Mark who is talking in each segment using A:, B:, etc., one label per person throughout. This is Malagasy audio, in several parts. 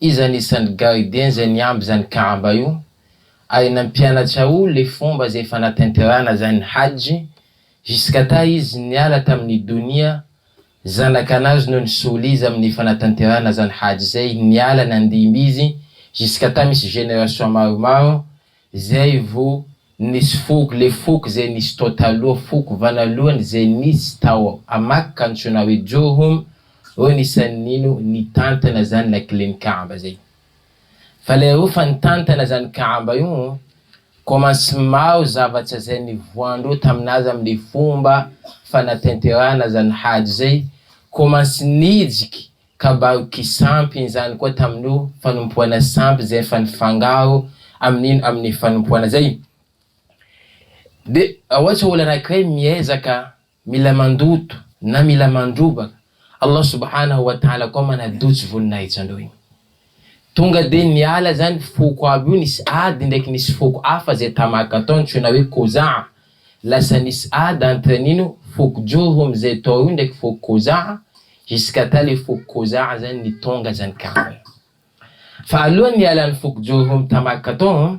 A: Iza anisany gardien zay niamby zany kamba io? Ary nampianatra o le fomba zay fanatenterana zany hajj jusqu'à ta izy niala taminy donia zanakanazy no nisolo izy aminy fanatanterana zany hajj zay niala nandimby izy jusqu'à ta misy génération maromaro Zay vo nisy foko le foko zay nisy tao taloha foko vanalohany zay nisy tao a makka antsoina hoe jurhum reo nisany nino nitantana zany lakilen'ny kaaba zay fa le reo fa nitantana zany kaaba io ko mansy maro zavatsa zay nivoandreo taminazy amle fomba fanatenterahana zany hajy zay ko mansy nijiky Ka mba ho kisampy izany koa tamin'io fanompoana sampy izay efa nifangaro amin'iny amin'ny fanompoana izay. Dia ohatra olona anankiray miezaka mila mandoto na mila mandrobaka, Allah Subhanahu wa Ta'ala koa manadotsy voninahitsy anao iny. Tonga dia niala izany foko avo io, nisy ady indraiky nisy foko hafa izay tamàka tao antsoina hoe Kozaha. Lasa nisy ady entre an'ino, foko Jorom izay tao io indraiky foko Kozaha, jusqu'à ta ilay foko Kozaha izany nitonga izany karana. Fa alohan'ny nialan'ny foko Jorom tamàka tao,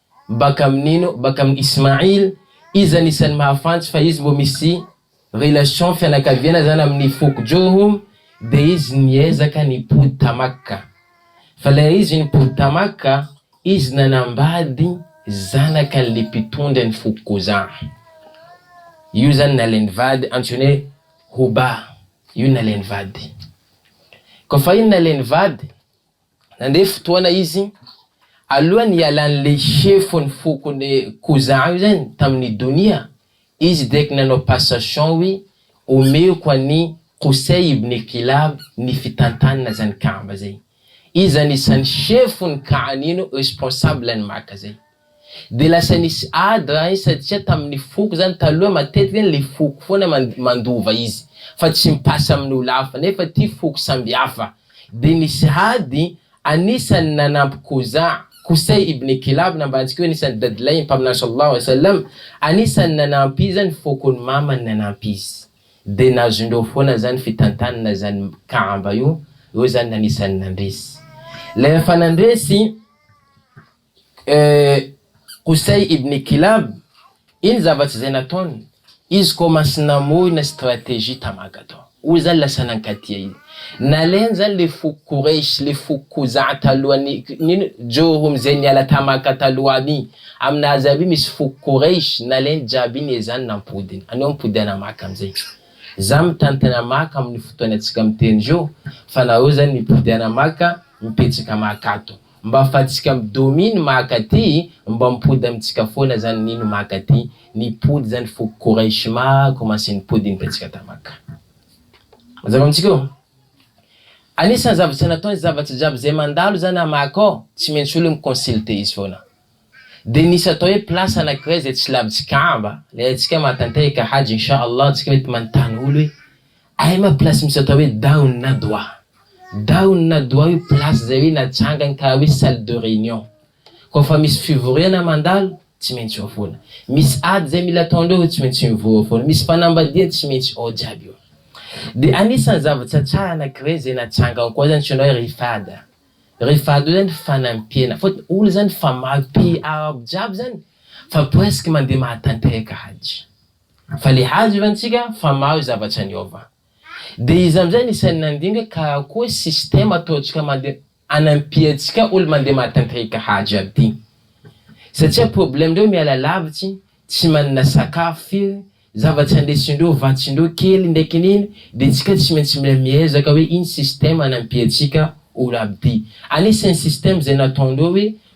A: Baka amin ino? Baka amin Ismail, izy anisan'ny mahafantsy fa izy mbo misy relation fianakaviana zany amin'ny foko Jurhum, dia izy niezaka nipody ta Makka. Fa lay izy nipody ta Makka, izy nanambady zanakan'le mpitondra ny foko Khuzaa. Io zany nalainy vady, antsoiny hoe Hubaa. Io nalainy vady. Koa fa iny nalainy vady, Nandre fotoana izy, alohan'ny hialan'le chef ny fokon'le Koza io zany tamin'ny Donia, izy dia ky nanao passation hoe omeko an'i Qusay ibn Kilab ny fitantanana zany Kaaba zay. Izy zany isan'ny chef ny Ka'anino, responsable ny Maka zay. Dia lasa nisy ady raha iny satria tamin'ny foko izany, taloha matetika ilay foko foana mandova izy fa tsy mi-passe amin'ny olona hafa nefa ity foko samby hafa. Dia nisy ady, anisan'ny nanampy Khuza', Qusay ibn Kilab nambarantsika hoe anisan'ny dadilahin'ny Mpaminany sallallahu alayhi wa sallam, anisan'ny nanampy izy ny fokon'ny mamany nanampy izy. Dia nazondreo foana izany fitantanana izany Kaaba io, ireo izany anisan'ny nandresy. Rehefa nandresy. Qusay ibn Kilab, Iny zava-tsy izay nataony, izy koa mantsy namoy na stratégie tam Hagadan. Hoy izany lasa nankatia izy. Nalehany izany ilay foko Quraysh, ilay foko Khuzaa talohan'ny, nino? Jurhum izay niala tam Makka taloha aby iny. Amina azy aby io misy foko Quraysh, nalehany jiaby iny ezany nampodiny. Anio mipody ana Makka amin'izay. Za mitantana Makka amin'ny fotoanantsika miteny izao, fa nareo izany mipody ana Makka, mipetraka Makka ato. Mba fatsika am domi ny maka ty mba mipody amitsika foana zany nino maka ty nipody zany foko kouraish ma commence nipody iny tatsika ta maka mazava amitsika io anisany zavatra nataony zavatra jiaby zay mandalo zany a maka ao tsy maintsy olo mi consulter izy foana de nisy atao hoe place anakiray zay tsy lavitsy kaaba le atsika mahatantay ka hajy inchallah atsika mety manontany olo hoe Ahy ma place misy atao hoe Down na Doha Down na Doha io place zay hoe natsangany karaha hoe salle de réunion Koa fa misy fivoriana mandalo tsy maintsy eo foana Misy ady zay mila ataondreo eo tsy maintsy mivory eo foana Misy fanambadiana tsy maintsy ao jiaby io Dia anisan'ny zava-tsatsaha anakiray zay natsangany koa zany tsy inona hoe Rifad Rifad io zany fanampiana Fotony olona zany fa maro pays arabo jiaby zany fa presque mandeha mahatanteraka hajy. Fa le hazo efa antsika fa mahazo zavatra niova. De iza amizay ny sainy nandinga ka koa système ataontsika mande anampiantsika olo mande mahatantrika hazo jiaby ty. Satria problème ndreo miala lavitsy, tsy manana sakafo firy, zavatra andesindreo vatsindreo kely ndraiky nino de tsika tsy maintsy mila miezaka hoe ino système anampiantsika olo aby ty. Anisany système zay nataondreo hoe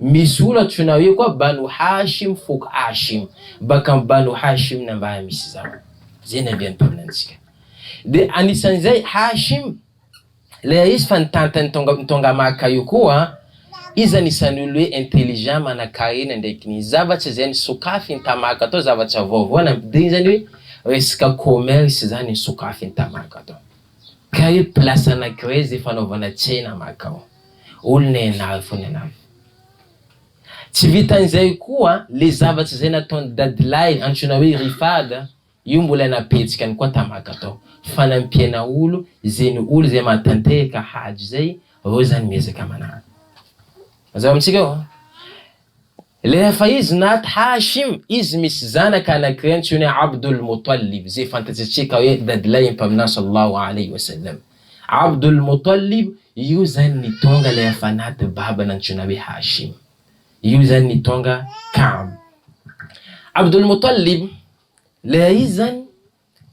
A: Misy olona antsoina hoe koa Banu Hashim foko Hashim, baka amin'ny Banu Hashim ny ambara misy izany. Izay ny andian-teny amintsika. Dia anisan'izay Hashim, ilay ahisy fa ny tantan'i Tonga, Tonga Maka io koa, izy anisan'ny olona hoe intelligent, manankarena ndraiky ny zavatra izay nosokafin'i Tamaka tao, zavatra vaovao nampidiriny, izany hoe resaka commerce izany nosokafin'i Tamaka tao. Ka hoe place anankiray izay fanaovana tsena Maka ao. olona ianaro fona ianaro. Tsy vitan'izay koa le zavatra izay nataon'i dadilahy antsoina hoe Rifad io mbola napetsikany koa tamaka tao fanampiana olo ze ny olo zay mahatanteheka hajo zay reo zany miezaka manara zao amitsika eo Rehefa izy naty Hashim, izy misy zanaka anankiray antsoiny hoe Abdul Muttalib, izay fantatsitsika hoe dadilahin'ny Mpaminany sallallahu alayhi wa sallam. Abdul Muttalib, io izany ny tonga ilay efa naty baba nantsoina hoe Hashim. Io izany ny tonga Ka'b. Abdul Muttalib, ilay izy izany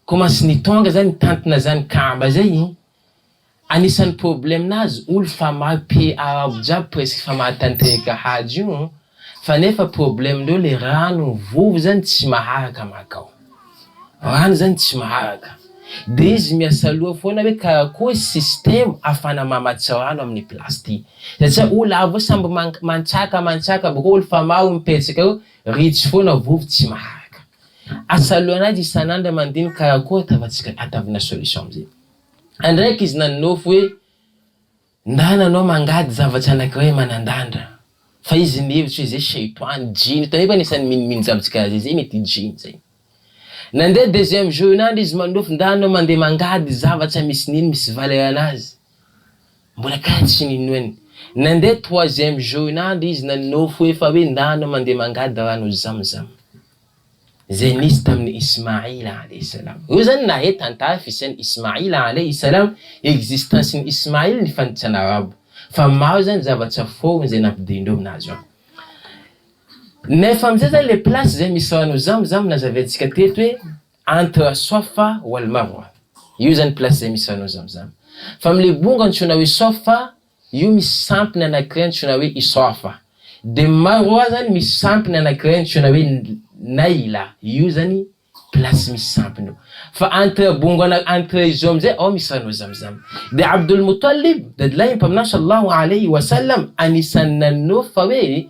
A: Commence ny tonga zany mitantona zany kamba zay e! Anisany problème nazy olo fa maro PA ao jiaby presque fa mahatanteraka hajy io fa nefa problème ndreo le rano mivovo zany tsy maharaka makao rano zany tsy maharaka de izy miasaloha foana hoe karakory système afana mamatsy rano aminy place ty satria olo avy samby mantsaka mantsaka boko olo fa maro mipetsaka eo ritsy foana vovo tsy maharaka. Asa aloana azy isan'andro aman-diny karakory atavantsika atavina solution amin'izay. Andraiky izy nanonofy hoe ndana anao mangady zavatra anakiray manandandra fa izy nihevitra hoe zay sheitoany, jiny, tao nefa anisan'ny minomino zavintsika azy zay mety jiny zay. Nandeha deuxième jour-nandro izy manonofy ndana anao mandeha mangady zavatra misy nino misy valeur anazy. Mbola kay tsy ninoany. Nandeha troisième journal izy naninofy hoe fa hoe ndana mandeha mangady rano zamzam. Izay nisy tamin'i Ismail alaihi salam. Ireo izany nahay tantara fisian'i Ismail alaihi salam, existence-n'i Ismail ny fanitsana arabo. Fa maro izany zava-tsy forme izay nampidinindreo nazy an. Nefa amin'izay izany ilay place izay misy rano zamzam nazaventsika teto hoe. Entre Swafa wal Marwa, io zany place zay misy anao Zamzam. Fa amle bongo antsoina hoe Swafa, io misy sampiny anakiray antsoina hoe Iswafa. De Marwa zany misy sampiny anakiray antsoina hoe Naila, io zany place misy sampiny io. Fa entre bongo ana entre izao amzay ao misy anao Zamzam. De Abdul Muttalib, dadilahin'ny Mpaminany Sallallahu Alayhi Wasallam, anisany nanao fa hoe,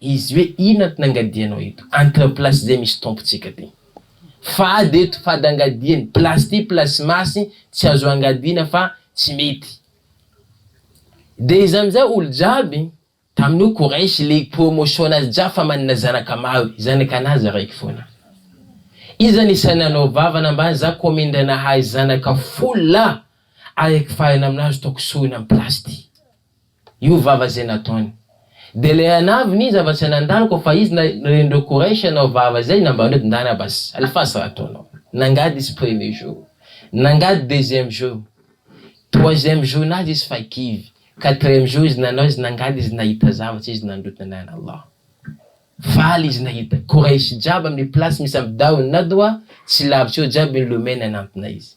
A: Izy hoe ina ty nangadianao eto? Antina place zay misy tompo tsika ty. Fady eto fady angadiany place ty place masy tsy azo angadiana fa tsy mety. De izy amizay olo jiaby taminio koresy le promotion nazy jiaby fa manana zanaka maro zanaka anazy raiky fona. Iza nisa nanao vava nambany za ko mindra nahay zanaka folo lahy araiky farany aminazy toko sorona am place ty. Io vava izay nataony. Dia ilay anavy n'iza fa tsy nandalo koa fa izy na ren'ireo Kouraïch hanao vava izay nambaran'ireo dindanaba's alfas raha ataonao. Nangady izy premier jour. Nangady deuxième jour. Troisième jour nazy izy fa kivy. Quatrième jour izy nanao izy nangady izy nahita zavatra izy nandroty nanahina Allah. Faly izy nahita. Kouraïch jiaby amin'ny place misy ampy dahony na doha tsy lavitra eo jiaby ny lomeno nanantona izy.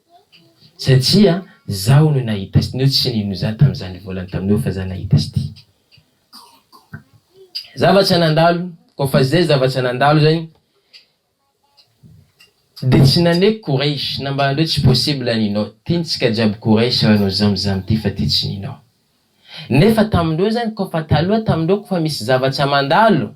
A: Satria zaho no nahita sty neo tsy nino za tamzany volany tamineo fa za nahita sty zavatra nandalo ko fa zay zavatra nandalo zany de tsy naneky courage na mba andreo tsy possible ninao tintsika jiaby courage ra no zam zam ty fa ty tsy ninao nefa tamindreo zany ko fa taloha tamindreo ko fa misy zavatra mandalo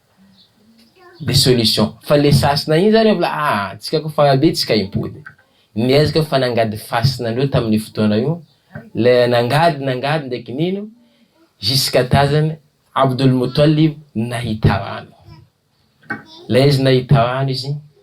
A: de solution fa le sasina iny zany mbola ah antsika ko fa be tsika impody miezaka fa nangady fasina andreo tamin'io fotoana io le nangady nangady ndraiky nino jusqu'à tazany Abdul Muttalib nahita rano le izy nahita rano izy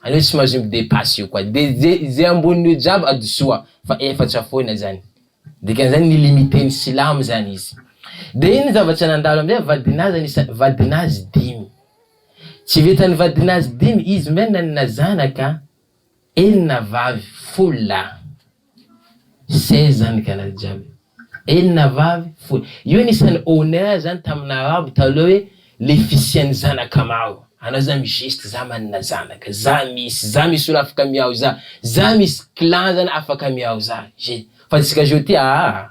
A: Anio tsy mahazo mi-depasse io koa de ze ze amboniny io jiaby adisoa fa efatra foana zany dikan'izany mi-limite ny silamo zany izy de iny zavatra nandalo amizay vadinazany isa vadinazy dimy tsy vitan'ny vadinazy dimy izy minana zanaka enina vavy folo lahy Zay zany gana jiaby enina vavy folo io anisany honneur zany taminy arabo taloha hoe le fisiany zanaka maro anao za mi geste za manana zanaka za misy za misy olo afaka miaho za za misy clan zany afaka miaho za je fa tsika zao ty aa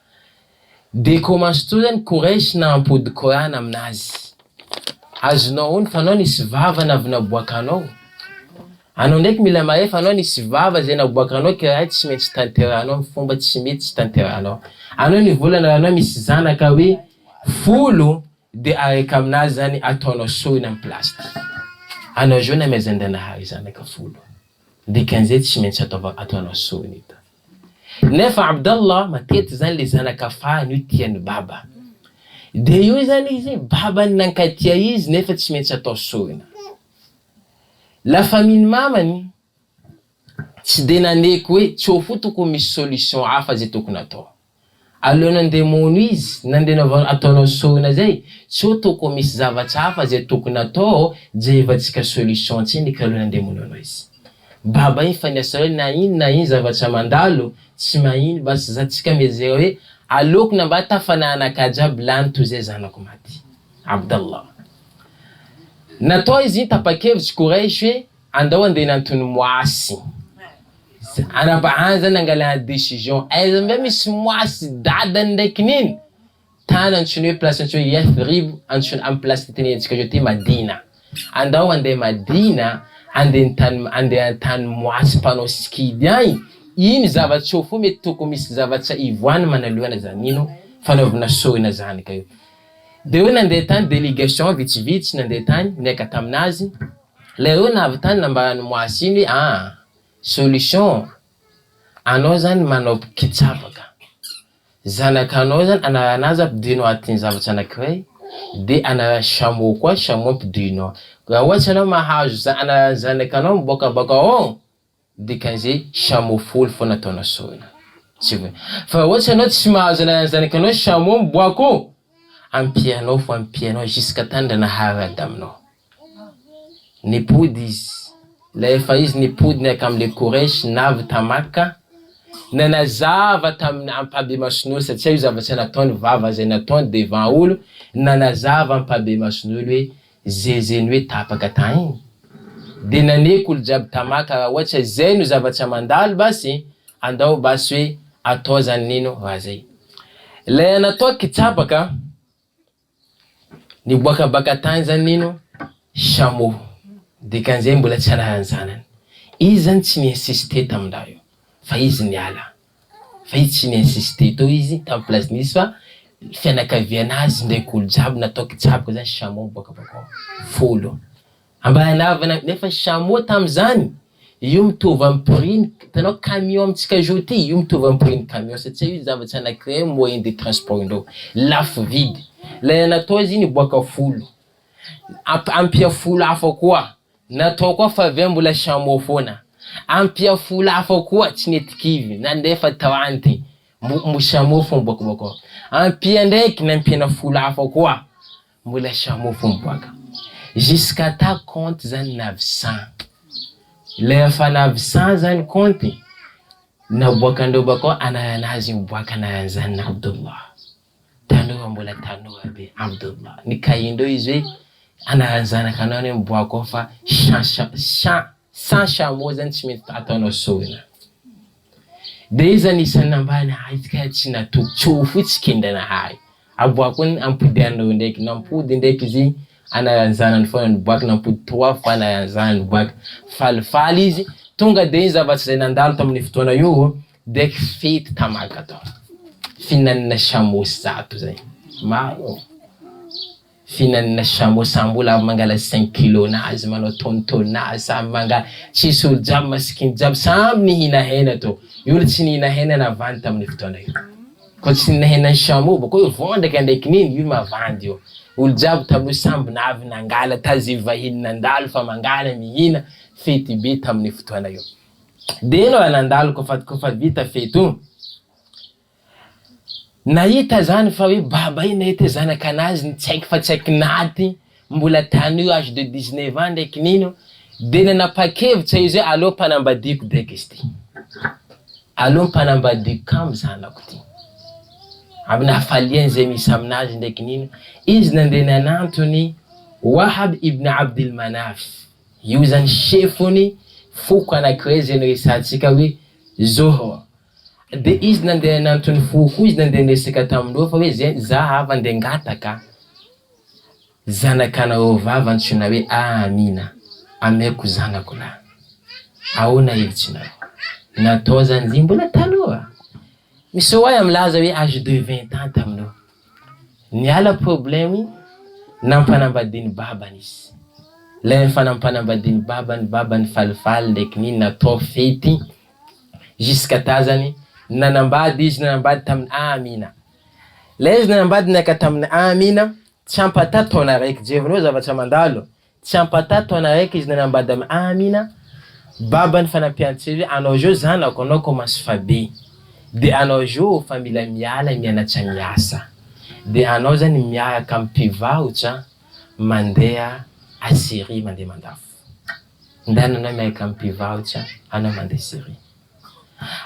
A: Dia commence to zany Quraysh na ampody Qoran aminazy. Azonao aona fa anao nisy vava na avy naboakanao. Anao ndraiky mila mahay fa anao nisy vava zay naboakanao ka raha io tsy maintsy tanterahanao am fomba tsy mety tsy tanterahanao. Anao ny volana raha anao misy zanaka hoe folo dia araka aminazy zany ataonao sorona am place ty. Anao zao namezan-dranahary zanaka folo. Dikan'izay tsy maintsy ataova ataonao soninita. Nefa Abdallah matety zany le zanaka fahiny io tian'i baba. De io zany izy babany nankatia izy nefa tsy maintsy atao sorona. La famille-n'i mamany tsy de naneky hoe tsy ho fo tokony misy solution hafa zay tokony atao. Alohan'ny handeha mono izy, nandeha navao ataonao sôina zay, tsy ho toko misy zavatra hafa zay tokony atao, jerevantsika solution tsiny ka alohan'ny handeha mono anao izy. Baba iny fa ny asanareo na ino na ino zavatra mandalo, tsy mahino basy za tsika miezera hoe aleoko na mba tafana anakahy jiaby lany toy zay zanako maty. Abdallah. Natao izy iny tapakevitry Quraish hoe Andao andeha any Tonomoasy. Ana ba any zany nangalana decision aiza ndray misy moasy dadany ndraiky nino tany antsoiny hoe place antsoiny hoe yathribo antsoina am place fitenerantsika zao ty madina andao andeha madina andeha ny tany andeha any tany moasy mpanao sikidy any iny zava-tsoa fo mety tokony misy zava-tsa ivoany manalohana zany nino fanaovana soina zany ka io de hoe nandeha tany delegation vitsivitsy nandeha tany niaika taminazy Le hoe nahavitany nambarany moasy iny hoe aa solution anao zany manao mpikitsapaka zanakanao zany anarana azy ampidino atin zavatra anakiray de anarana chameau koa chameau ampidino ao raha ohatry anao mahazo anarana zanakanao miboaka baka ao Dikan'izay chameau folo foana ataonao sorona tsy hoe fa ohatra ianao tsy mahazo ananan'ny zanakanao chameau miboaka eo ampianao fo ampianao jusqu'à tany raha naharary adaminao nipody izy ilay efa izy nipody niaraka amin'ilay koresy navy tamaka nanazava tamin'ny ampahabemason'olo satria io zavatra nataony vava izay nataony devant olo nanazava ampahabemason'olo hoe Zeze ny hoe tapaka tahiny de naneky olo jiaby tamaka ra ohatsa zay no zavatsa mandalo basy andao basy hoe atao zany nino ra zay lay anatao kitsabaka niboaka baka tany zany nino shamo dikanzay mbola tsy anarany zanany izy zany tsy ni insiste tamindahy io fa izy niala. Ve tsy ni-insister teo izy tamin'ny place nisy fa ny fianakavian'azy ndraiky olo jiaby natao kitsaboko zany chameau boaka boko folo ambana avana nefa chameau tamizany io mitovy amin'ny prix ny hitanao camion amintsika jour ty io mitovy amin'ny prix ny camion satsia io zava-tsy anakiray amin'ny moyen de transport ndreo lafo vidy lay anatao izy iny boaka folo amp- ampia folo hafa koa Natao koa fa ve mbola chameau foana? Ampia folo hafa koa tsy nety kivy na nefa tao any de mbo chameau fo miboaka boaka ao. Ampia ndraiky nampiana folo hafa koa mbola chameau fo miboaka. Jusqu'à ta compte zany navisan. Ilay efa navisan zany compte naboakan-dreo bakao anarana azy miboaka anaran'izany na Abdullah. tanora mbola tanora be amdoa ny kaindreo izy hoe anaran'ny zanakanao ny hoe miboaka ao fa sans chameau zany tsy mety ataonao sorona de izy zany isan'ny nambany ahy izy kay tsy natoky tsy ho fotsy kendranahary aboako ny ampody an'ireo ndraiky nampody ndraiky izy anaran'ny zanany foana niboaka nampody trois fois anaran'ny zanany niboaka falifaly izy tonga de izy zavatsy zay nandalo tamin'ny fotoana io Deck fety tamaka atao fihinanana chameau zato zay maro ô fihinanana chameau sa mbola mangala cinq kilos nazy manao tonne tonne nazy samy manga tsisy olo jiaby masikiny jiaby samby mihina hena tô io olo tsy nihina hena navandy taminy fotoana io ko tsy nihina hena ny chameau boko io vondraka ndray kininy io mavandy io olo jiaby taloha samby navy nangala tazivy vahiny nandalo fa mangala mihina fety be taminy fotoana io. Be no nandalo kofadikofady vita fety o! Nahita zany fa hoe baba io nahita hoe zanakanazy ny tsy haiko fa tsy haiko naty mbola tany io age de 19 ans ndray kinino de nanapakevitra izy hoe aleo mpanambadiako beka izy ty, aleo mpanambadiako kamo zanako ty, amin'ny hafaliany zay misy aminazy ndray kinino izy nandeha nanantony Wahab ibn Abdil Manaf Io izany chef-ny foko anaky hoe zay niresahantsika hoe Zoho. Dia izy nandeha nantony foko izy nandeha niresaka tamin'ireo fa hoe zay za avy andeha ngataka zanakanareo vavy antsoina hoe Amina ameko zanako lahy. Ahoana hevitsinareo? Natao zany izy io mbola taloha. Misy oahy milaza hoe âge de vingt ans taminao. Niala problème nampanambadian'i babany izy. Ilay rehefa nampanambadian'i babany, babany falifaly ndraiky nini natao fety jusqu'à tazany nanambady izy, nanambady tamin'i Amina. Ilay izy nanambady niaraka tamin'i Amina, tsy ampataha taona araiky. Jereo zavatra mandalo, Tsy ampatà taona araiky izy nanambady amin'i Amina, baban'ny fanampian-tsivy, Anao zao zanako, anao commence fa be, de anao zao fa mila miala mianatra miasa, de anao zany miaraka amin'ny mpivarotra mandeha à Syrie mandeha mandafo. Ndana anao miaraka amin'ny mpivarotra anao mandeha Syrie.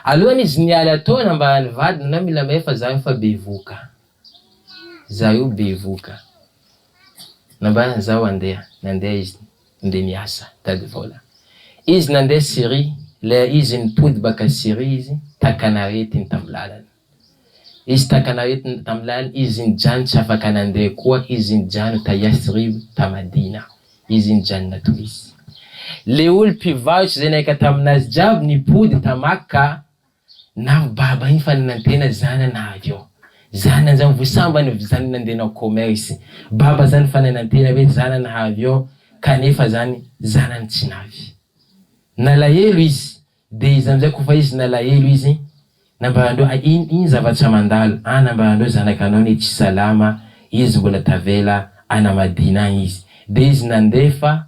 A: Alohan'izy niala tao nambaran'ny vadiny anao mila mahefa zaho efa bevoka. Za io bevoka. Nambarany zaho handeha, nandeha izy nde miasa tady vola. Izy nandeha Syrie, leha izy nipody baka Syrie izy takan'aretiny tam lalana. Izy takan'aretiny tam lalana izy nijano tsy afaka nandeha koa izy nijano ta Yathrib ta Madina izy nijanona to izy. Le olo mpivarotra zay naika taminazy jiaby nipody ta Makka Navo baba iny fa nanantena zana na avy eo zana zany vo sambany vo zany nandenao commerce baba zany fa nanantena hoe zana na avy eo kanefa zany zanany tsy navy nalahelo izy de izy amizay ko fa izy nalahelo izy nambarandreo a in iny zavatra mandalo a nambarandreo zanaka anao ne tsy salama izy mbola tavela anamadina agny izy de izy nandefa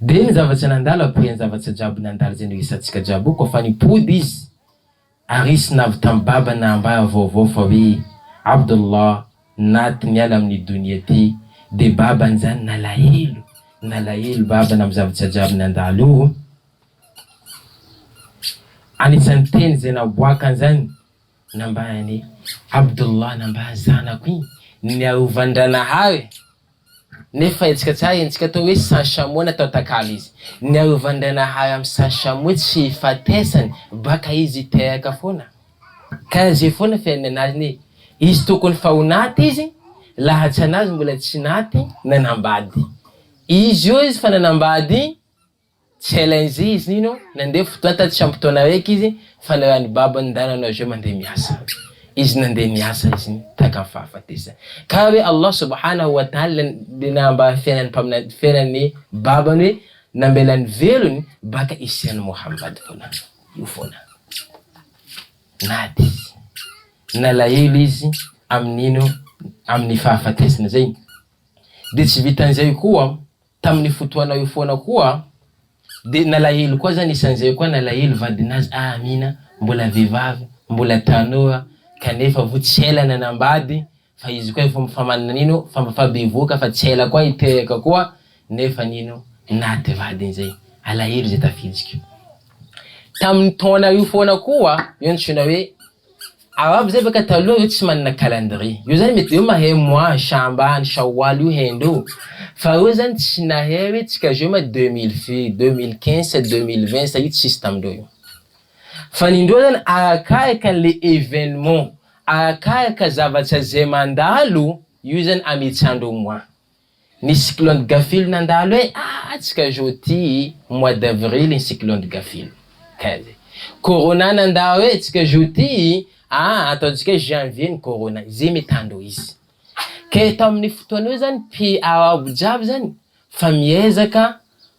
A: Dia ny zavatra nandala ko iany zavatra jiaby nandala izay noesatsika jiaby ko fa nipody izy ary izy navy tam baba nahambara vaovao fa hoe Abdullah Naty miala amin ny donia ty dia baba njany nalahelo nalahelo baba nam zavatra jiaby nandalo io o anisan ny teny izay naboakan zany nambaran i Abdullah nambaran zanako igny ny arovandranahary Nefa hetsika tsara iny, tsy atao hoe sans chameau natao takalo izy. Niarovan-dRainahary amin'ny sans chameau tsy hifatesany, baka izy hiteraka foana. Karaha zay foana fiainana azy ne. Izy tokony fa ho naty izy, lahatsan'azy mbola tsy naty, nanambady. Izy eo izy fa nanambady, Tsy ela izay izy nino, nandeha fotoana tatsy am-potoana araiky izy fa ny raha ny babany ny raha nanao azy ireo mandeha miasa. Izy nandeha miasa izy nino tahaka ny fahafatesany. Ka hoe Allah subhanahu wa ta'ala dia nahabary ny fiainan'ny mpaminany, fiainan'ny babany hoe nambelany velony baka isian'i Mohamady foana. Io foana. Nady izy. Nalahelo izy amin'ino? Amin'ny fahafatesana izay. Dia tsy vitan'izay koa, Tamin'io fotoana io foana koa dia nalahelo koa zany isan'izay koa nalahelo vadinazy ah Amina mbola vehivavy mbola tanora kanefa vo tsy ela nanambady fa izy koa efa fa manana nino fa mba fa bevoka fa tsy ela koa hiteraka koa nefa nino naty vadiny zay alahelo zay tafidiko tamin'ny taona io foana koa io antsoina hoe Ao aby zay baka taloha io tsy manana calendrier io zany mety eo mahay mois shambany shawal io haindreo fa reo zany tsy nahay hoe tsika zao ma deux mille feu deux mille quinze sa deux mille vingt sa io tsisy tamindreo io fa ny ndreo zany arakaraka anle evenement arakaraka zavatra zay mandalo io zany ametsandreo mois Ny cyclone Gaffil nandalo e! Atsy ka zao ty mois d'avril ny cyclone Gaffil. Kay zay. Corona nandao e! Tsy ka zao ty a! Ataontsika hoe janvier ny corona. Izay mety handao izy. Kay tamin'io fotoana io zany pays arabo jiaby zany fa miezaka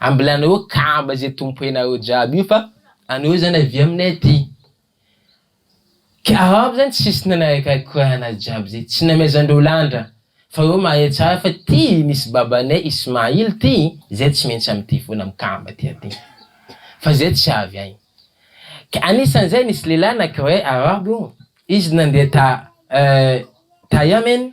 A: Ambilanareo kamba izay tompoenareo jiaby io fa anareo zany avia aminay aty. Karama zany tsisy nanarakaraka korana jiaby zay, tsy namezandreo landra fa reo mahay tsara fa ty misy babanay Ismail ty zay tsy maintsy amty foana mikamba ty aty fa zay tsy avy any. Ka anisan'izay nisy lehilahy anankiray arabo izy nandeha ta ta Yemen,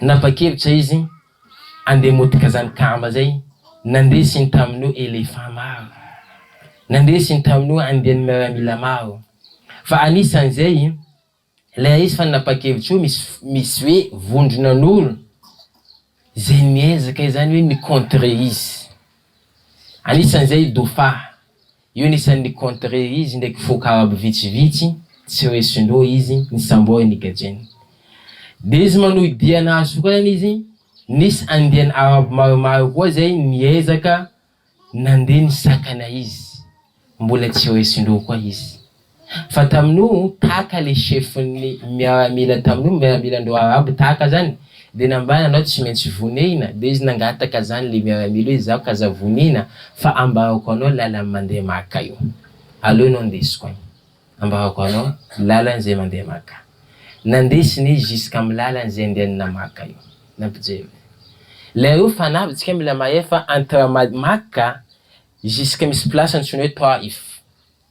A: Nanapa-kevitra izy handeha motika izany kamba izay. Nandesiny tamin'io éléphant maro. Nandesiny tamin'io andiany miaramila maro. Fa anisan'izay, ilay raha izy fa nanapa-kevitra io misy, misy hoe vondronan'olo izay miezaka izany hoe mi-contrer izy. Anisan'izay i Dofa. Io ny isan'ny contre izy ndraiky foko arabo vitsivitsy tsy hoe sinoa izy ny sambo eny gadreny. Dia izy manohy dia nahazo sokanana izy, nisy andiany arabo maromaro koa izay niezaka nandeha nisakana izy, mbola tsy hoe sinoa koa izy. Fa tamin'io Taka le chefon'ny miaramila tamin'io miaramilandreo arabo Taka zany de nambany anao tsy maintsy vonehina de izy nangataka zany le miaramila hoe zaho k'aza vonihina fa ambarako anao lalan'ny mandeha Maka io aleo anao ndesiko any ambarako anao lalan'ny zay mandeha Maka nandesiny izy jusqu'amin'ny lalan'ny zay andehanana Maka io nampijery lay reo fanahy tsika mila mahay fa entre Maka jusque misy place antsoina hoe Taif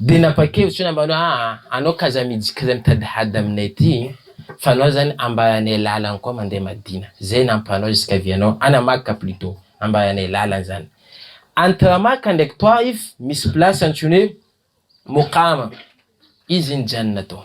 A: Dia nampakevitry ny ambany hoe aa anao k'aza miditra k'aza mitady hady aminay aty fa anao zany ambaranay lalany koa mandeha madina zay nampanao jusqu'à vie anao ana maka plutot ambaranay lalany zany entre maka ndraiky toaif misy place antsoiny hoe mokama izy nijanona tao.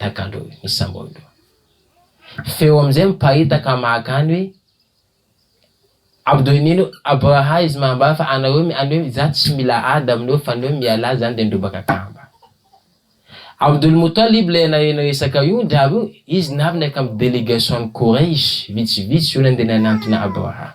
A: Dagalo i Samolo. Feo amin'izay miparitaka maka any hoe Abdoinino Abraha izy mambara fa anareo any hoe za tsy mila ady aminareo fa ny hoe mialà zany de midrobaka kamba. Abdul Muttalib ilay anareo niresaka io ndry avy io izy navy niaraka amin'ny délégation-n'i Quraysh vitsivitsy io nandeha nanantona Abraha.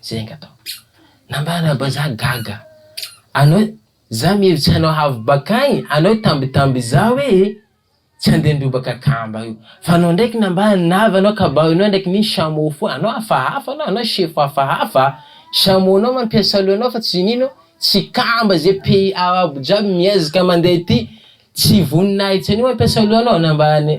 A: Zay nga atao. Nambara bazaha gaga. Anao za mihevitsy hanao havy bakagny anao tambitamby za hoe tsy andeha nirobaka akamba io fa anao ndraiky nambara ny navy anao kabary nao ndraiky ny chameau fou anao hafahafa anao anao chef hafahafa chameau nao mampiasa loha nao fa tsy inino tsy kamba ze pays arabo jiaby miezaka mandeha ty tsy voninahitsy an'io mampiasa loha nao nambara ny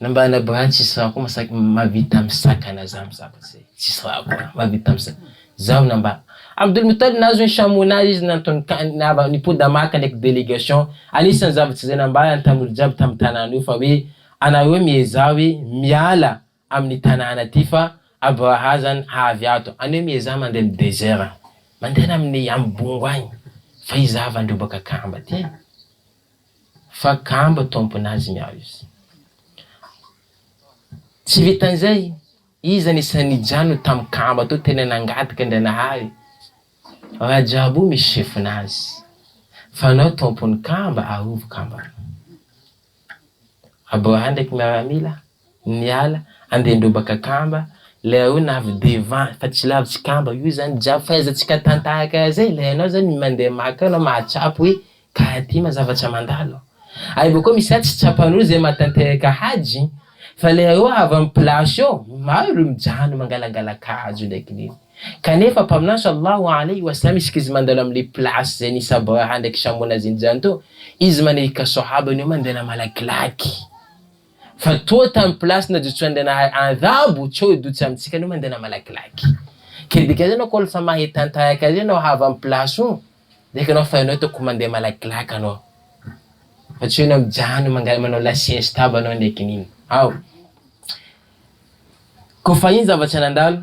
A: Na mba any abany tsisy raha koa masaky mavita misakana za mizaka ze tsisy raha koa mavita misakana zaho na mba Abdul Muttalib nahazo ny chameau nazy izy nantony kany nava nipoda maka ndraiky délégation anisany zavatra zay nambarany tamolo jiaby tamy tanana io fa hoe anareo miezaha hoe miala amin'ny tanàna ity fa abrahazany haavy ato any hoe miezaha mandeha amin'ny desert mandehana amin'ny amin'ny bongo any fa izaho avy handrobaka kamba aty e fa kamba tompon'azy ny aho izy tsy vitan'izay iza ny isan'ny nijano tamin'ny kamba tao tena nangataka Andrianahary raha jiaby io misy chefina azy fa anao tompon'ny kamba arovy kamba anao abraham ndraiky miaramila niala andian-drobaka kamba ilay hoe na avy devant fa tsy lavitsy kamba io zany jiaby fahaizantsika tantahaka azy e, ilay anao zany mandeha maka eo anao mahatsapa hoe ka aty ma zavatra mandalo ary bakeo misy raha tsy tsapan'olo zay mahatanteraka hajy fa ilay hoe avy amin'ny place eo maro olo mijano mangalangala-kajo ndraiky nini kanefa mpaminany salallahu aleyhi wa sallam isika izy mandalo amle place zay nisy Abraha ndraiky Samona zinjany teo izy manahirika sahaba ny hoe mandena malakilaky Fa toa tam place najotsoan'Andranahay andabo tsy eo dotsa amintsika anao mandeha na malakilaky. Ke dikany anao ko lfa mahay tantayak azy anao hava am place o de ekenao fa enao toko mandeha malakilaky anao. Fa tsy eo enao mijano manga manao la siesta aby anao ndreky iny. Ao. Ko fa iny zava-tsy nandalo.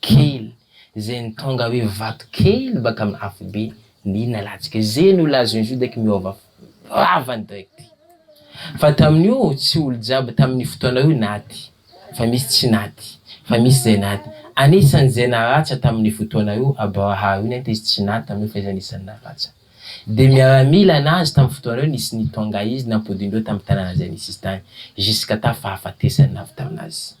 A: kely zay ny tonga hoe vato kely baka amin'ny afobe ny nalatsika zay no lazon'i Juda ky miova vavany direct fa tamin'io tsy olo jiaby tamin'io fotoana io naty fa misy tsy naty fa misy zay naty anisan'izay naratsa tamin'io fotoana io Abraha io nety izy tsy naty tamin'io fa izy anisan'ny naratsa de miaramila nazy tamin'ny fotoana io nisy ny tonga izy nampodindreo tamin'ny tanàna zay nisy izy tany jusqu'à tafahafatesany navy taminazy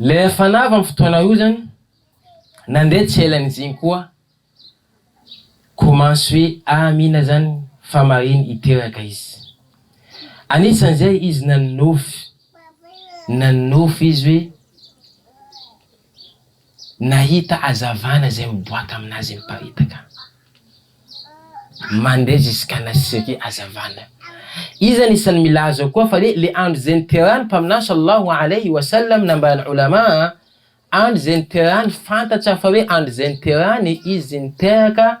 A: Ilay fanava amin'ny fotoana io izany, nandeha tsy ela an'iziny koa commence hoe Amina izany fa marina hiteraka izy. Anisan'izay izy nanonofy, nanonofy izy hoe. Nahita hazavana izay miboaka amin'azy ny mparitaka. Mandeha zisk'ana sirih hazavana. Iza no isan'ny mila azy ao koa fa le le andro izay niterahan'ny Mpaminany sallallahu alayhi wa sallam nambaran'ny Ulama a, andro izay niterahan'ny fantatra fa hoe andro izay niterahany izy niteraka,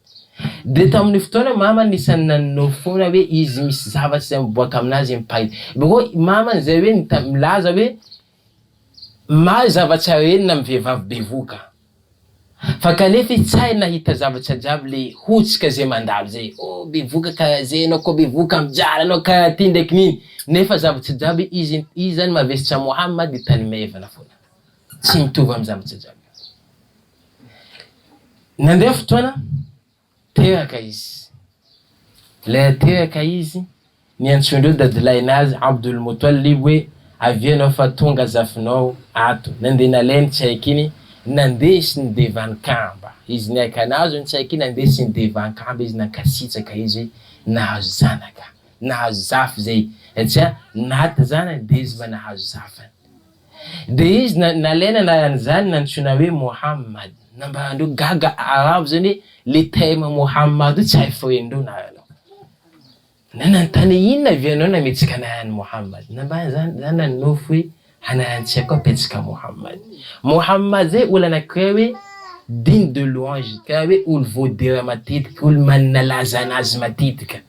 A: Dia tamin'io fotoana mama anisan'ny nanonofy foana hoe izy misy zavatra izay miboaka amin'azy impay. Dia koa mama izay hoe mita- milaza hoe mahay zavatra rehetra na mivehivavy bevoka. Fa kanefa izy tsy hay nahita zavatra jiaby le hotsika izay mandalo izay. Oh bevoka karaha zay ianao koa bevoka mijara anao karaha ty ndraiky nini. Nefa zavatra jiaby izy izy zany mavesatra moha mah dia tany maivana foana. Tsy mitovy amin'ny zavatra jiaby. Nandeha fotoana, tehaka izy. Ilay tehaka izy, niantsoandreo dadilahinazy Abdul Mutwalib hoe, Avia ianao fa tonga zafinao ato. Nandeha nalainy tsy haiko iny, nandeha sy nidevan-kamba izy. Niaika nahazo iny tsy haiko iny, nandeha sy nidevan-kamba izy, nankasitraka izy hoe nahazo zanaka, nahazo zafy izay, tsia, Nat zany dia izy mba nahazo zafy. Dia izy nalaina anaran'izany nantsoina hoe Mohammad. Na mba andreo gaga arabo izany hoe le terme Mohammad io tsy hay foen'ireo na anao. Na nanontany hoe inona avy ianao nametsaka anaran'i Mohammad. Na mba izany izany na nonofy hoe anaran-tsia koa apetsaka Mohammad. Mohammad izay olona anankiray hoe digne de louange, tena hoe olo voadera matetika, olo manana laza anazy matetika.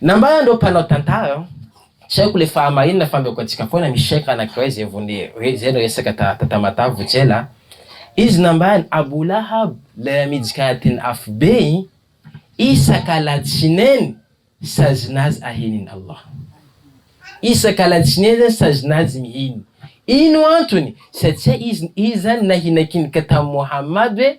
A: Nambarany ireo mpanao tantara, tsy haiko ilay fahamarinana fa ameko antsika foana misy cheikh anankiray izay vao ny izay no resaka ta ta Tamatave vao tsy ela a! izy nambarany Abou Lahab ilay ramijika anatin'ny afobe iny isaka alatsinainy sazina azy aheniny Allah isaka alatsinainy zany sazina azy miheny ino antony satsia izy izy zany nahinakinika tamin'i Mohamady hoe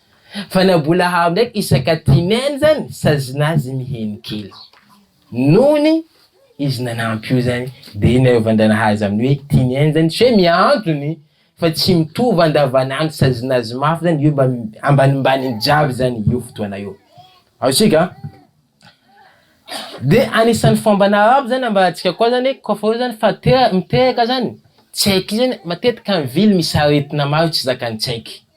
A: Fa na mbola hao ndraiky isaka timen zany sazina azy miheno kely. Nony izy nanampy io zany de iny naeovan-dranaha azy amin'ny hoe timen zany tsy hoe miantony fa tsy mitovy andavanandro sazina azy mafy zany io mba ambanimbaniny jiaby zany io fotoana io. Azontsika? De anisan'ny fomban'ny arabo zany ambarantsika koa zany hoe kaofa eo zany fa te- miteraka zany tsaiky zany matetika ny vily misy aretina maro tsy zakan'ny tsaiky.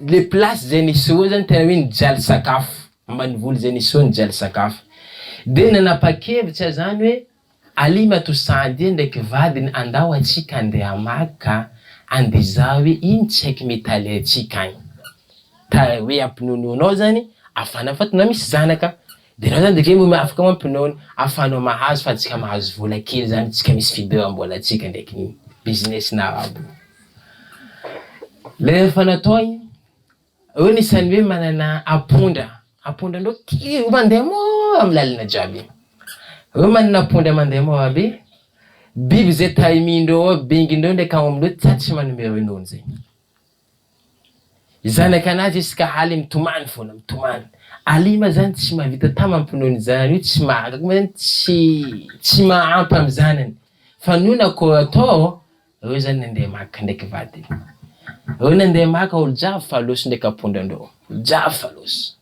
A: le place zay nisehoa zany tena hoe nijaly sakafo ambanivoly zay nisehoa nijaly sakafo de nanapakevitra aho zany hoe aly matoa sandie ndraiky vadiny andao atsika ande hamaky ka ande hizaha hoe ino tsy haiky mety alaintsika agny ka hoe ampinonoanao zany afana fa tena misy zanaka De raha zany de kay mba afaka mampinaony afahanao mahazo fantsika mahazo vola kely zany tsika misy fidiram-bola tsika ndraiky ny business na arabo le efa natao igny eo ny isan'ny hoe manana apondra apondra ndreo kely io mandeha mora amy lalana jiaby reo manana apondra mandeha mora be biby ze taimi-ndreo ao bengy ndreo ndreky aomby ndreo tsa tsy manome ronono zay. Zanak' anazy izy ka haly mitomany foana, mitomany. Alima zany tsy mahavita tam am-pinoany io zanany io, tsy mahagaga moa zany tsy tsy mahampy am zanany fa nony akory atao ô, reo zany nandeha maka ndraiky vadiny, reo nandeha maka olo jiaby fa losy ndraiky ampondra ndreo, jiaby fa losy.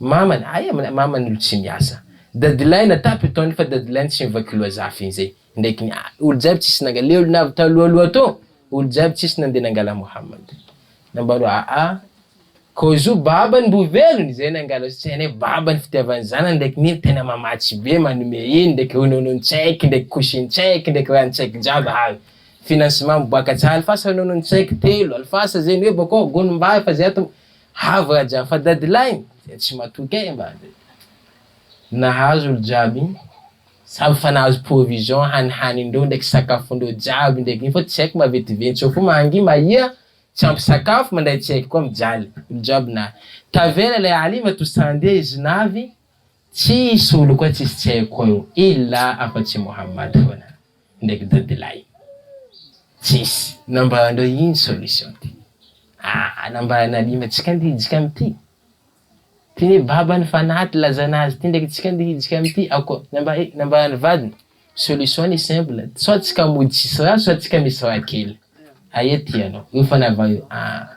A: Mamany, ay aminy, mamany olo tsy miasa. Dadilahy natapy ny taony fa dadilahy ny tsy mivaky loha zafy inzay ndraiky ny ay olo jiaby tsisy nangala le olo navy talohaloha to olo jiaby tsisy nande nangala Mohammad nambany hoe aa ko zo babany mbo velony zay nangala tsy hainay babany fitiavany zanany ndraiky ny iny tena mamatsy be manome iny ndraiky rononon tsaiky ndraiky couchine tsaiky ndraiky rano tsaiky jiaby hay financement miboaka tsy alfasa rononon tsaiky telo alfasa zay ny hoe bakao gonom-bary fa zay ato Havy Raja fa dadilahy dia tsy matoky ahy mba dia nahazo olo jiaby samy fa nahazo provision hanihanindreo ndraiky sakafondreo jiaby ndraiky iny fa tsy haiko mba vetiventseo fo mangy mahia tsy ampy sakafo mandray tsy haiko koa mijaly olo jiaby nahy tavela ilay aliva to sandia izy navy Tsy hisy olo koa tsisy tsy haiko eo ila afa tsy Mohammad foana ndraiky dadilahy. Tsisy. Nambaranareo ino solution ty? Ah nambaran'i Ali mba tsika ndeha hijika amity. Ty ne babany fanaty lazana azy ty ndraiky tsika ndeha hijika amity ako namba eh nambaran'i vadiny solution ny simple soit tsika mody tsisy ra soit tsika misy ra kely. Aia tianao? Io fanava io ah.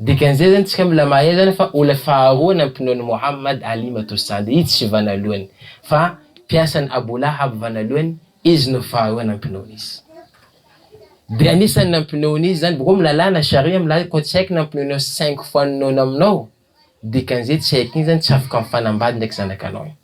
A: Dikan'izay zany tsika mbola mahay zany fa olona faharoa nampinoa an'i Mohammad Ali matoa sady izy tsy vanalohany fa mpiasan'i Abu Lahab vanalohany izy no faharoa nampinoany izy de anisan'ny nampinoany izy zany boko amin'ny lalàna sharia milaza koa tsy haiko nampinoanao cinq fois ny nono aminao dikan'izay tsy haiko iny zany tsy afaka mifanambady ndraiky zanakanao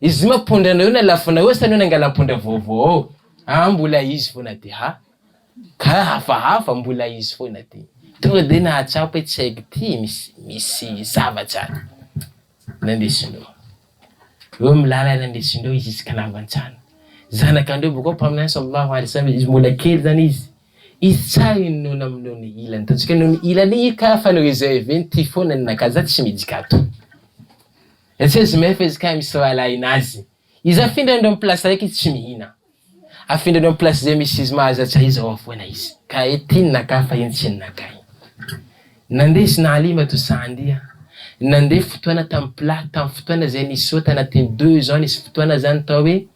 A: Izy ma pondra anao eo na lafonao eo sa anao nangalam-pondra vaovao ao? Aa mbola izy foana ty ha. Ka hafahafa mbola izy foana ty. Tonga dia nahatsapa hoe tsy haiko ty misy misy zavatra any. Nandeha sinoa. Eo amin'ny lalana nandeha sinoa izy izy ka navantsana. Zanakandreo bokao mpaminany samy vavy ary samy izy mbola kely zany izy. Izy tsa inona amin'ny nony ilany tatsika nony ilany i ka fanao izay avy eny ty foana ny nakaja tsy mijika ato. Etsy mef etsy kay misy rahalahy nazy izy afindra indreo am place raiky izy tsy mihina afindra indreo am place zay misy izy mahazo atsay izy ao afoana izy ka e tiny naka fa iny tsy nakay nande izy nahalima to sa andia nande fotoana tam plat tam fotoana zay nisy ota anatiny deux ans nisy fotoana zany tao hoe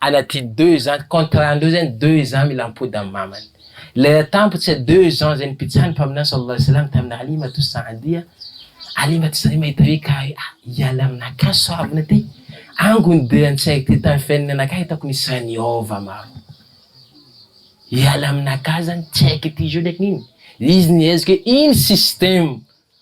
A: Anaty deux ans contrat ndreo zany deux ans mila mipody am mamany lera tampotse deux ans zay nipitsahan mpaminany saw Allah salam tamina halimatu saadia halimatu sadia mahita hoe ka hoe ah hiala aminakahy soavina ty ango ny dera nitsaiko ty tam fiainana anakahy hitako nisy raha niova maro hiala aminakahy zany tsy haiko ity jour ndraiky nino izy nihezika hoe iny système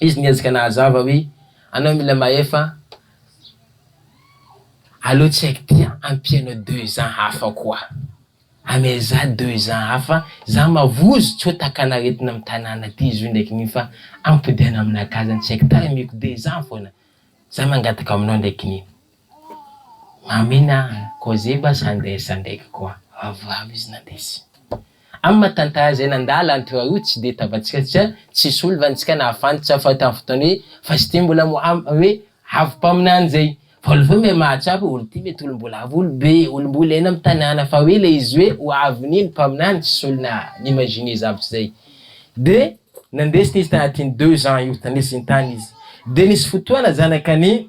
A: Izy niezaka nahazava hoe, Anao mila mahefa aleo tsy haiko ty an, ampianao deux ans hafa koa. Amea za deux ans hafa, za mavozo tsy ho takan'aretina am tanàna ty izy io ndraiky ny fa ampodiana aminakahy zany tsy haiko tarimiko deux ans foana za mangataka aminao ndraiky ny. Amin a! Koziba Sanders ndraiky koa avo avo izy nandesy. Am maha tantara zay nandala an toi io tsy de tavatsika satria tsisy olo van tsika nahafantatra fa tam fotoana hoe fa zty mbola mo am hoe avo mpaminany zay fa olo vao miha mahatsapa hoe olo ty mety olo mbola avo olo be olo mbola eny am tanàna fa hoe le izy hoe ho avin iny mpaminany tsisy olo na imaginer zavtry zay de nandesiny izy tanatin deux ans io tandesiny tany izy de nisy fotoana zanak an i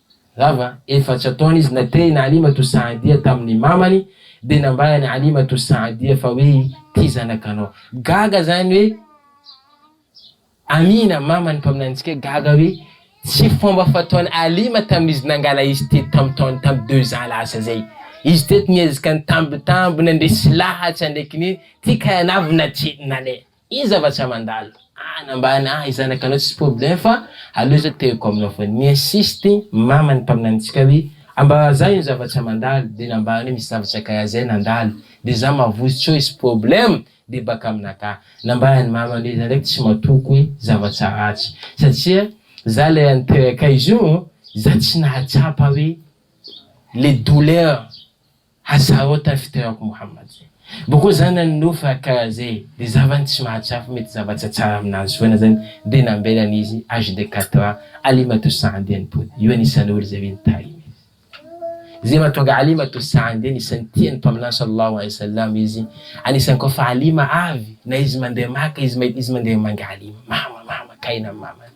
A: Rava, efatra taona izy naterina Halimatu Saadia tamin'ny mamany dia nambara an'i Halimatu Saadia fa hoe ity zanakanao. Gaga zany hoe Amina, maman'ny mpaminanintsika, gaga hoe tsy fomba fataon'i Halima tamin'izy nangala izy teto tamin'ny taona tamin'ny deux ans lasa zay. Izy teto niezaka nitambitamby nandresy lahatra ndraiky ny tika navy natrina leh. Iza va tsy amandalo any ambany ahy zanaka anao tsy problème fa aleo zao tehiko aminao foana mi insiste mama ny mpaminanintsika hoe amba zah ino zava tsy amandalo de nambahany hoe misy zava tsy akay azay nandalo de zah mavozo tsy oe sy problème de baka amina ka nambahany mamany hoe zah ndraiky tsy matoky hoe zava tsy ratsy satria zah le any toerakay zio zah tsy nahatsapa hoe le douleur Aza o tafiteako Mohammad. Boko zanany Nuh fa ka ze de zavany tsy mahatsapa mety zavatra tsara aminazy foana zany de nambelany izy age de quatre ans Alima to Sa'd enimpolo io anisany olo ze mino Taim izy ze matonga Alima to Sa'd anisany tia ny Mpaminany Sallallahu alaihi wasallam izy anisany ko fa Alima avy na izy mandeha Maka izy mahita izy mandeha mangaly mama mama kay na mamany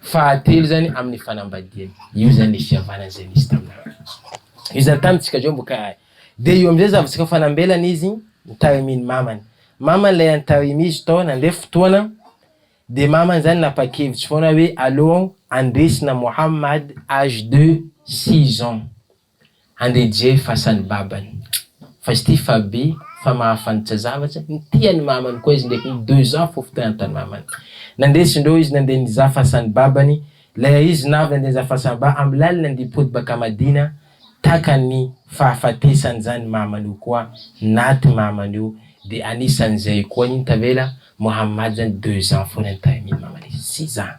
A: Fahatelo zany amin'ny fanambadiana. Io zany le fihavanana zay nisy taminareo. Io zany tamintsika zao mbo karaha. Dia io amin'izay zavatra ka fanambelana izy notarimin'ny mamany. Mamany ilay antarimy izy tao nandeha fotoana dia mamany zany napakevitra foana hoe aleo andesina Mohammad âge de six ans. Andry Jay fasany babany fa izy ty fa be fa mahafantitra zavatra ny tia ny mamany koa izy ndreky ny deux ans fofo teo antany mamany nandesy ndreo izy nandeha nizaha fasany babany leha izy navy nandeha nizaha fasany ba am lalana ndi pody baka madina taka ny fahafatesany zany mamany io koa naty mamany io de anisan zay koa iny tavela mohammad zany deux ans fona ny tamin mamany izy tsy za.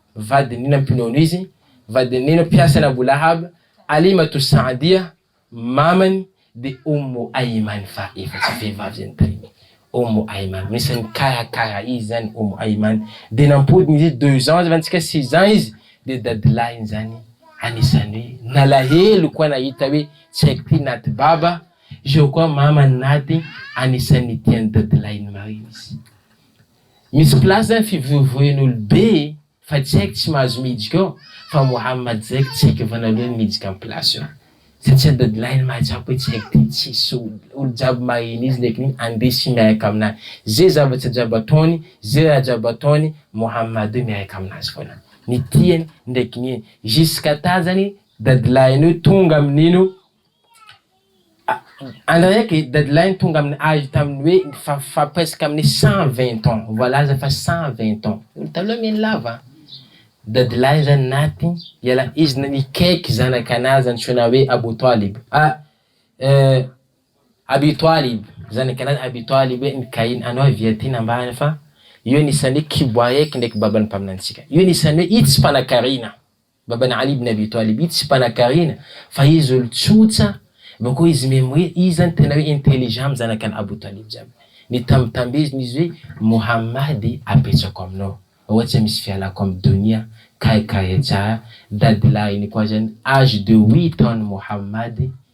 A: vadinina mpinono izy, vadinina mpiasan' Abu Lahab, Halimatu Sa'diyah, mamany dia Ummu Ayman fa efa tsy vehivavy izany tamin'iny Ummu Ayman, anisan'ny nikarakara izy izany Ummu Ayman, dia nampodina izy deux ans zava-nitsika six ans izy dia dadilahiny izany anisan'ny hoe nalahelo koa nahita hoe tsy haiko ty naty baba, zao koa mamany naty anisan'ny tian'ny dadilahiny marina izy. Misy place zany fivoivoian olo be e fa tsy haiko tsy mahazo miditra ao fa Mohammad zay ko tsy haiko efa naloany miditra am place io satria dadilahy ny mahazako hoe tsy haiko ty tsisy olo olo jiaby maheno izy ndreky ny ande sy miaraka aminahy ze zavatra jiaby ataony ze raha jiaby ataony Mohammad io miaraka aminazy foana ny tiany ndreky ny eny jusqu'à ta zany dadilahin'io tonga amin'ino Andraiky deadline tonga amin'ny age tamin'ny hoe fa presque amin'ny cent vingt ans, voalaza fa cent vingt ans, olo taloha miaina lava an! deadline zany naty iala izy na nikaiky zanaka anazy antsoina hoe Abu Talib ah Abi Talib, zanaka anazy Abi Talib hoe nikahina anao avy aty nambany fa io anisan'ny hoe kibo aheky ndraiky baban'ny mpaminantsika, io anisan'ny hoe io tsy mpanankarena. Baban'i 'Alî ibn Abî Tâlib tsy mpanankarena fa izy olon-tsotra, avy eo koa izy mihaino hoe iza no tena hoe intelligent amin'ny zanak'an'i Abou Tâlib jiaby. Nitambitambezina izy hoe, Mouhammad apetrako aminao, ohatra misy fialako amin'ny donia, KKHA, dadilahin'i koa zany, âge de huit ans-n'i Mouhammad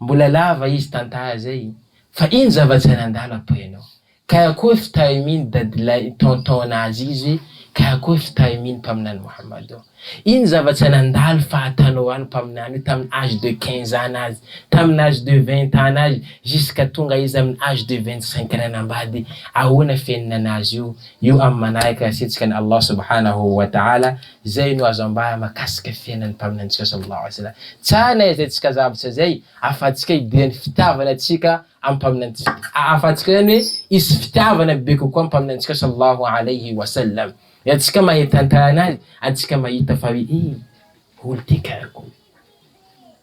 A: Mbola lava izy tantaha zay fa ino zava-tsaina andalo après anao? Kay akory fitahimin dadilahy tonton anazy izy kay akory fitahimin mpaminany Mohammado? Ino zava-tsaina andalo fa atanao any mpaminany io tamin age de quinze ans anazy, tamin age de vingt ans anazy jusqu'à tonga izy amin age de vingt cinq ans nanambady? Ahoana fenina anazy io? Io am manahaka ny asetsika an Allah subhanahu wa ta'ala. Izay no azo ambara makasika ny fiainan'ny mpaminantsika sallallahu alayhi wa sallam. Tsara na izay tsika zavatra izay ahafahantsika hidera ny fitiavana tsika amin'ny mpaminantsika. Ahafahantsika izany hoe hisy fitiavana bebe kokoa amin'ny mpaminantsika sallallahu alayhi wa sallam raha tsika mahay tantara anazy ary tsika mahita fa hoe eh olo ity karako.